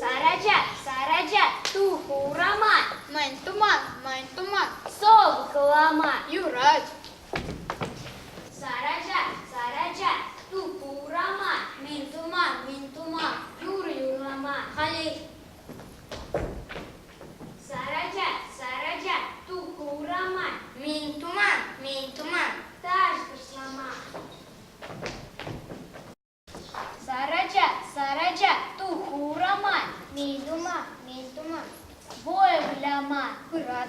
Сарачат, сарачат, тух урама. Мӗн туман, мӗн туман. Сов хлама. Юрать. Сарачат, сарачат, тух урама. Мӗн туман, мӗн туман. Юр юрлама. Халей. Сараja, Сараja, туку урама. Мин туман, мин туман. Таш кушлама. Сараja, Сараja, туку урама. Мин туман, мин туман. Воевляма. Пырат.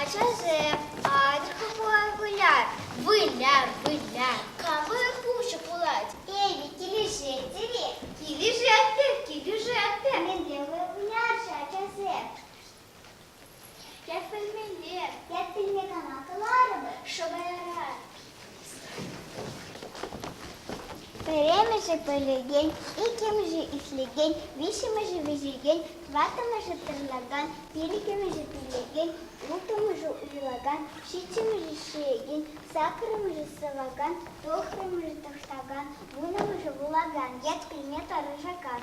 Ачасем, атька пулар выляр, выляр, выляр, кавыр хуҫӑ пулать. Эпӗ килӗшетӗр-и? Килӗшетпӗр, килӗшетпӗр. Мӗнле выляр-ши ачасем? Ят пӗлмелле, ят пӗлме кама каларӑмӑр? Шӑпаялар. Пӗрремӗшӗ пӗлекен, иккӗмӗшӗ ишлекен, виҫҫӗмӗшӗ вӗҫекен, тӑваттӑмӗшӗ тӑрӑнакан, пилӗкӗмӗшӗ пӳлекен, улттӑмӗшӗ уҫӑлакан, ҫиччӗмӗшӗ ҫиекен, саккӑрмӗшӗ сӑвакан, тӑхрӑмӗшӗ тӑхтакан, вуннӑмӗшӗ вулакан ят килне тӑрӑшакан.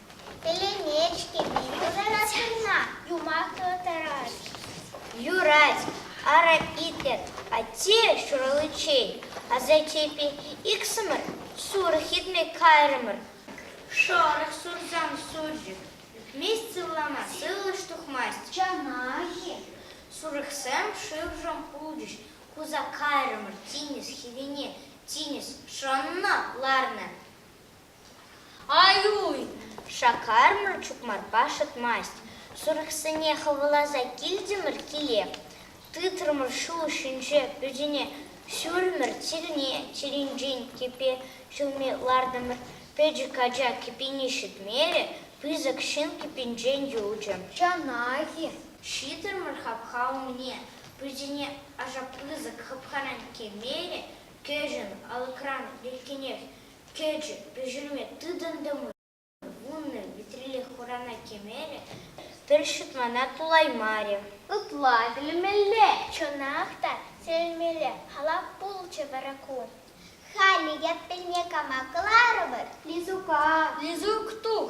Пӗлӗнет-ҫке юрларас кӑна, юмахлӑ тарас. Юрать, ара, питӗ. Атте ҫураличчен асаттепе иксӗмӗр сурӑх итме кайрӑмӑр. Шӑрӑх сурсам сурчӑк. Ӳкмест сывлама, сывлӑш тухмасть. Чана-и? Сурӑхсем шывшӑн хулчӗҫ. Хуса кайрӑмӑр тинӗс хӗвине. Тинӗс шӑннӑ, ларнӑ. Ай-уй! Шаккарӑмӑр чукмарпа шӑтмасть. Сурӑхсене хӑваласа килтӗмӗр киле. Тытрӑмӑр ҫул ҫинче пӳртене. Ҫурӑмӑр чирне чӗринчен кӗпе ҫулми лартӑмӑр. Пӗчӗк ача кӗпине ҫӗтмерӗ, пысӑк ҫын кӗпинчен юлчӗ. Чанах-и? Ҫитрӗмӗр хапха умне. Пӳртене аша пысӑк хыпхаран кӗмеле кӗҫӗн алӑкран иртенех Кӗчӗ, пӗҫерме тытӑнтӑмӑр. Вуннӑ витрелле хурана кӗмерӗ, пӗр ҫутмана пулаймарӗ. Ытла вилмелле, чӑнах та, сӗлмелле халап пулчӗ вара ку. Халӗ яппине кама кӑларӑпӑр? Лизука, Лизук, тух!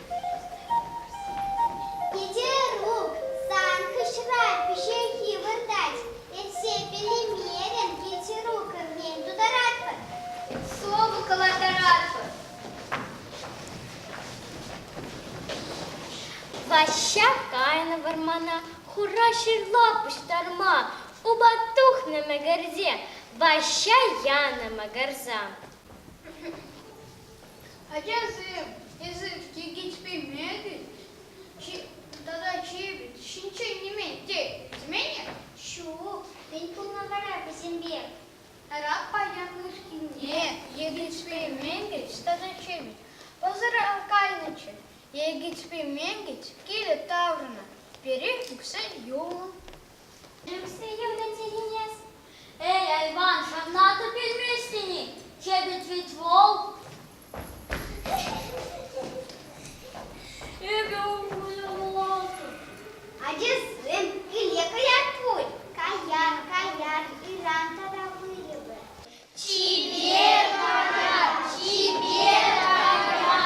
Hetero сан хыҫра пиҫехи выртать. Эссе пӗлеймерӗн, гетерока мӗн тутаратпӑр? Сӑвӑ калатаратпӑр. Ваҫҫа кайнӑ вӑрмана, хура ҫырла пуҫтарма. Упа тухнӑ мӗгӗрсе, Ваҫҫа янӑ мӑкӑрса. Ачасем, эсир киркичпеймедӗн тата ҫирӗп ҫинчен нимен тейтӗмӗн-и? Ҫук, мӗн пулнӑ вара вӗсемпе? Ара, паян кӗркунне Егичпейменкич тата Чемич пӑсӑра кайнӑччӗ. Егичпейменкич киле таврӑннӑ, пире укҫа юлнӑ. Ӳксе юлнӑ тенине-с. Эй, айван, ҫавна та пӳлмест тени, чепет вӗт вӑл. Эпӗ умлӑн-улатӑн. Ачасем киле каять пуль. Каян, каян, ыран тата вырӑпӑр. Чипер ара, чипер ара.